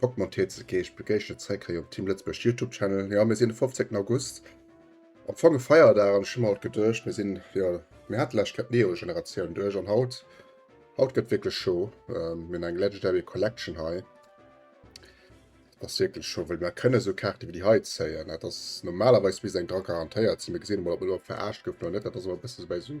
Bock mat Dir ze ginn. Ech begéissen Iech zeréck hei op Team Lëtzebuerg YouTube Channel. Ja mir sinn de 15. August. Am Fong e Feierdag an ech hun haut geduecht mir sinn ja mir hat läscht gëtt Neo Generatioun duerch an haut haut gëtt wierklech scho ähm, mir eng Legendary Collection hei ass wierklech scho well mir kënne so Kaarte wie déi hei zéien. Dat ass normalerweis bis eng Dra garantéiert sinn. Mir gesinn emol ob mir do verarscht goufen oder net. Dat ass awer e bësse bei sou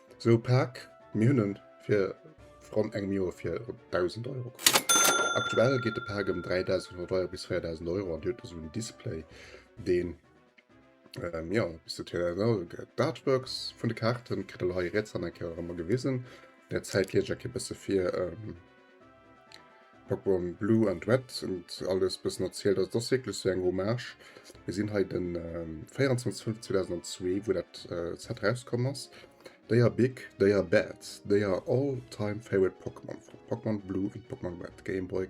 Sou e Pak, mir hunn en fir ronn engem Joer fir ronn 1.000 Euro kaf. Aktuell geet de Pak ëm 3.100 Euro bis 4.000 Euro an dir hutt esou en Display deen jo e bësse TLNL gëtt. D'Artworks vun de Kaarten kritt der lo hei riets an eng Kéier och ëmmer gewisen. Där Zäit liest ech a kee bësse vir. Pokémon Blue and Red und alles bëssen erzielt. Also das wirklich so eng Hommage. Wir sinn hei den ähm, 24.05.2002, wo dat äh, Set rauskomm ass. They are big, they are bad, they are all-time favorite Pokémon. Pokémon Blue und Pokémon Red, Game Boy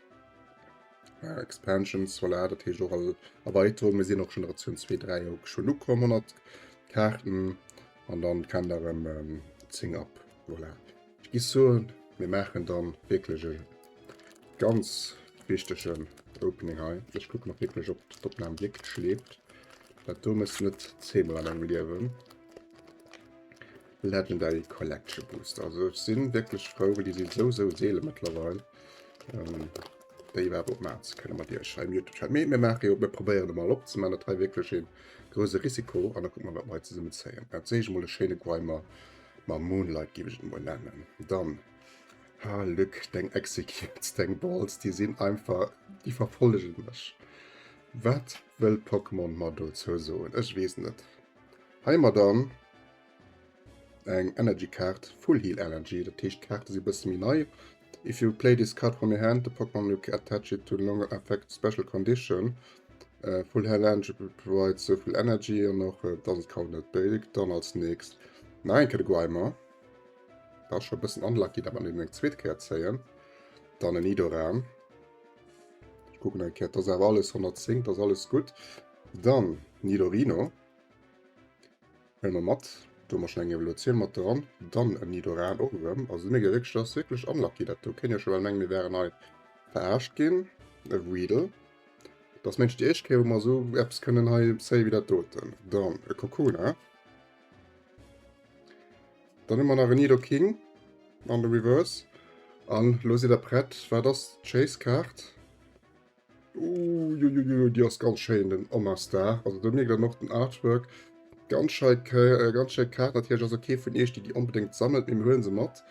Ja, Expansions, voilà, dat heescht och all Erweiterung. Mir sinn och Generation 2, 3 och schon ukomm, 100 Karten. An dann kann der em ähm, 10 ab. Voilà. Ich gi so, mir machen dann wirklich e ganz wichtigen Opening hei. Ich gucke noch wirklich, ob d'Opnahme wirklich schläft. Dat do muss net zehnmal an engem liewen. Legendary Collection Booster. Also ech sinn wierklech frou, well déi si sou sou seele mëttlerweil. Ähm, déi iwwerhaupt op Maats kënne mat Iech hei im YouTube-Channel. Mee mir maache jo, mir probéieren e mal opzeman. Dat hei wierklech een grouse Risiko an da kucke mer, wat mer hei zesummen zéien. Dat sehe ech emol, e schéine Grimer mam Moonlight géif ech et emol nennen. Dann, ha Luc, deng Executes, deng Balls, déi sinn einfach, déi verfollege mech. Wat wëll Pokémon mer dozou soen? Ech weess net. Hei mar dann. Eng Energy Kaart, Full Heal Energy, dat heescht d'Kaarte si bësse méi nei. If you play this card from your hand, the Pokémon you attach it to no longer affect special condition. Uh, full Hell Energy provides so viel Energy an och uh, doesn't count net big. Dann als nächst na enke de Guaymer. Da schon e bëssen unlucky, dat man den eng zweet Käer zéien. Dann en Nidoran. Ich gucken eng Käer, das awer alles 110, das alles gut. Dann Nidorino. Hëll mer mat, do hu mer schon eng Evolutioun mat dran, dann en Nidoran och erëm. Also mir ginn wierklech, dat ass wierklech unlucky, dat do kéint een schon bal mengen mir wären hei verarscht ginn. E Weedle, dat ass mengs déi éischt Kéier wou mer esou eppes kënnen hei zéien wéi dat doten. Dann e Kokona, dann hu mer nach en Nidoking an de Reverse an elo sidd der prett, wat ass d'Chase-Kaart? Uiuiui, déi ass ganz schéin, den Omastar. Also do mierkt een och den Artwork. Ganz schei, äh, ganz schéi Kaart. Natierlech ass se kee vun Iech, déi déi onbedéngt sammelt, mee mir huelen se mat.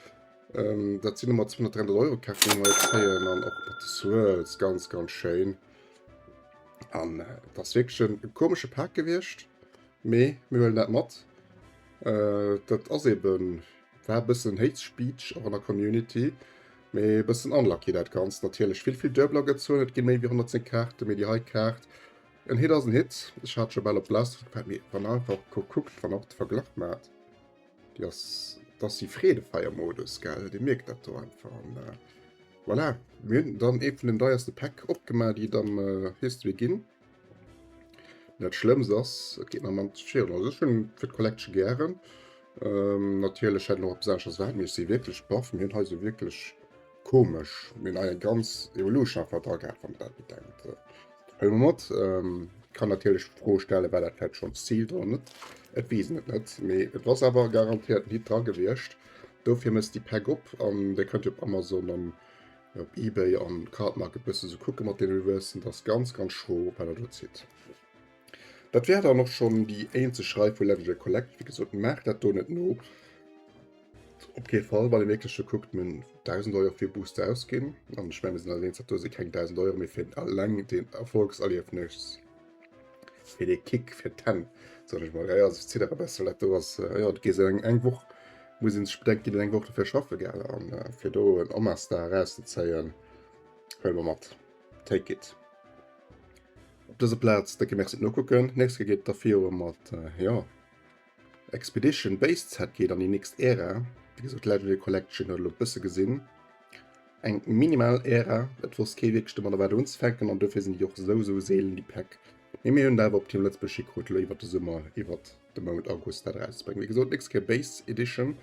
Ähm, dat sinn ëmmer 200, 300 Euro Kaart, déi mer hei kréien. An och mat de Swirls, ganz, ganz schéin. An äh, dat ass wierklech en e komesche Pak gewiescht, mee mir huelen dat mat. Äh, dat ass eben, war e bëssen Hate Speech och an der Community. Mee e bëssen unlucky dat Ganzt. Natierlech vill vill Duebler gezoen, et gi méi wéi 110 Kaarten, mee déi hei Kaart, en Hit ass en Hit. Ech hat scho bal op d'Last gepackt, mee wann der einfach kuckt, wann der och de Verglach maacht, déi ass, et ass e Freedefeier-Modus, gell, dir mierkt dat do einfach. An voilà, mir hunn dann ee vun den deierste Päck opgemaach, déi et am History ginn. Net schlëmms ass et geet mer mam Schirm. Also ech hunn fir d'Collection gären. Ähm, natierlech hätt noch besonnesch ass wat mir si wierklech baff mir hunn hei se wierklech komesch minn eier ganz Evolution einfach dra gehat wann dat bedenkt. Hëll mer mat ähm, kann natierlech d'Fro stelle war dat vläit schonns Zil dran net. Et weesen et net mee et ass awer garantiert Hit dra gewiescht. Dofir mësst déi Pack op an déi kënnt op Amazon an Op Ebay an Cardmarket bëssen ze kucken mat den Reversen, dat ass ganz ganz schro wat der do zitt. Dat wär dann och schonn déi eenzeg Rei vu Legendary Collect. Wéi gesot maacht dat do net no. Op kee Fall wann ee wierklech do kuckt, men 1000 Euro fir Booster ausginn an ech mengen mir sinn eis eens dat do si keng 1000 Euro méi fir eleng den Erfolgserliefnis. Fir de Kick, fir d'Hänn, soen ech mol. Ja, ja, also ziddere bessel, dat do ass, äh, ja, gees eng, eng Woch, muss een sech bedenken, ginn eng Woch dofir schaffe gell, an äh, fir do en Omastar erauszezéien, huele mer mat, take it. Op dëser Plaz décke Merci d'Nokucken, nächst Ke geet et da virun mat, äh, ja. Expedition Base Set geet an déi nächst Ära, wéi gesot d'Legendary Collection huet elo e bësse gesinn eng minimal Ära, et wosst kee wierklech domat wat unzefänken an dofir sinn déi och esou esou seelen déi Päck. Mee mir hunn et awer op Team Lëtzebuerg hikrutt elo iwwert de Summer, iwwer de Mount August dat erauszebréngen. Wéi gesot nächst Kéier Base Edition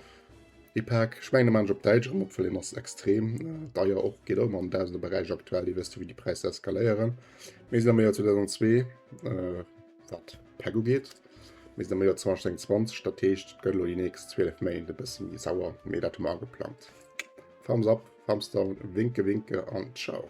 déi Pak, ech mengen de maachen ech op Däitsch erëm op, well hien ass extrem deier och, geet och ëmmer am Dausenderberäich aktuell, dir wësst jo wéi déi Präisser eskaléieren. Mir sinn am Joer 2002. Wat d'Päck ugeet, mir sinn am Joer 2021, dat heescht et gëtt elo déi nächst 12 Méint e bësse méi sauer, mee dat hu mer ageplangt. Thumbs up, Thumbs down, Winke Winke an Ciao.